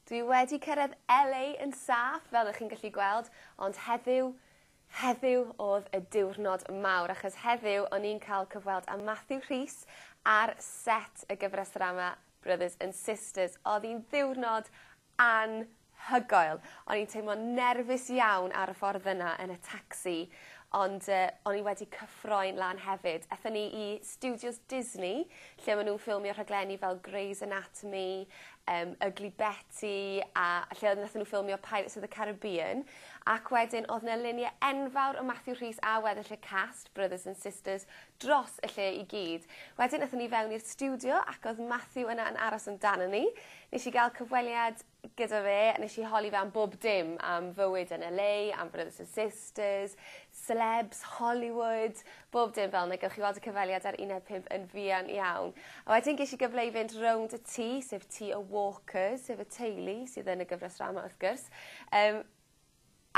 Dwi wedi cyrraedd LA yn saff fel ych chi'n gallu gweld, ond heddiw, heddiw o'dd y diwrnod mawr achos heddiw o'n i'n cael cyfweld â Matthew Rhys ar set y gyfres ddrama Brothers and Sisters. O'dd 'i'n ddiwrnod anhygoel. O'n i'n teimlo'n nerfus iawn ar y ffordd yna yn y tacsi ond yy o'n i wedi cyffroi'n lân hefyd. Ethon ni i stiwdios Disney lle ma' nw'n ffilmio rhaglenni fel Grey's Anatomy yym Ugly Betty a a lle odd nathon n'w ffilmio Pirates of the Carribean ac wedyn odd 'na lunie enfawr o Matthew Rhys a weddill y cast brothers and sisters dros y lle i gyd. Wedyn nethon ni fewn i'r stiwdio ac odd Matthew yna yn aros amdanon ni. Nesh i ga'l cyfweliad gyda fe a nesh i holi fe am bob dim am fywyd yn El Ay am brothers and sisters selebs Hollywood bob dim fel 'na gewch chi weld y cyfweliad ar uned pump yn fuan iawn. A wedyn gesh i gyfle i fynd rownd y tŷ sef tŷ y Walkers sef y teulu sydd yn y gyfres ddrama wrth gwrs yym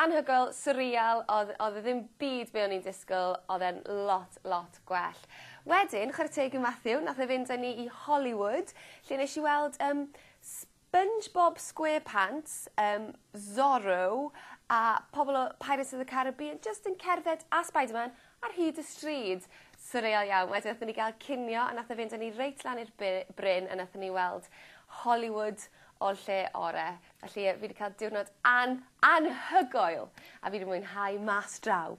anhygoel swreal odd odd e ddim byd be' o'n i'n disgwl odd e'n lot lot gwell. Wedyn chware teg i Matthew nath e fynd â ni i Hollywood lle nesh i weld yym s- Spongebob Squarepants yym Zorro a pobol o Pirates of the Carribean jyst yn cerdded a Spiderman ar hyd y stryd. Swreal iawn. Wedyn nathon ni ga'l cinio a nath e fynd â ni reit lan i'r by- bryn a nathon ni weld Hollywood o'r lle ore'. Felly yy fi 'di ca'l diwrnod an- anhygoel a fi 'di mwynhau mas draw.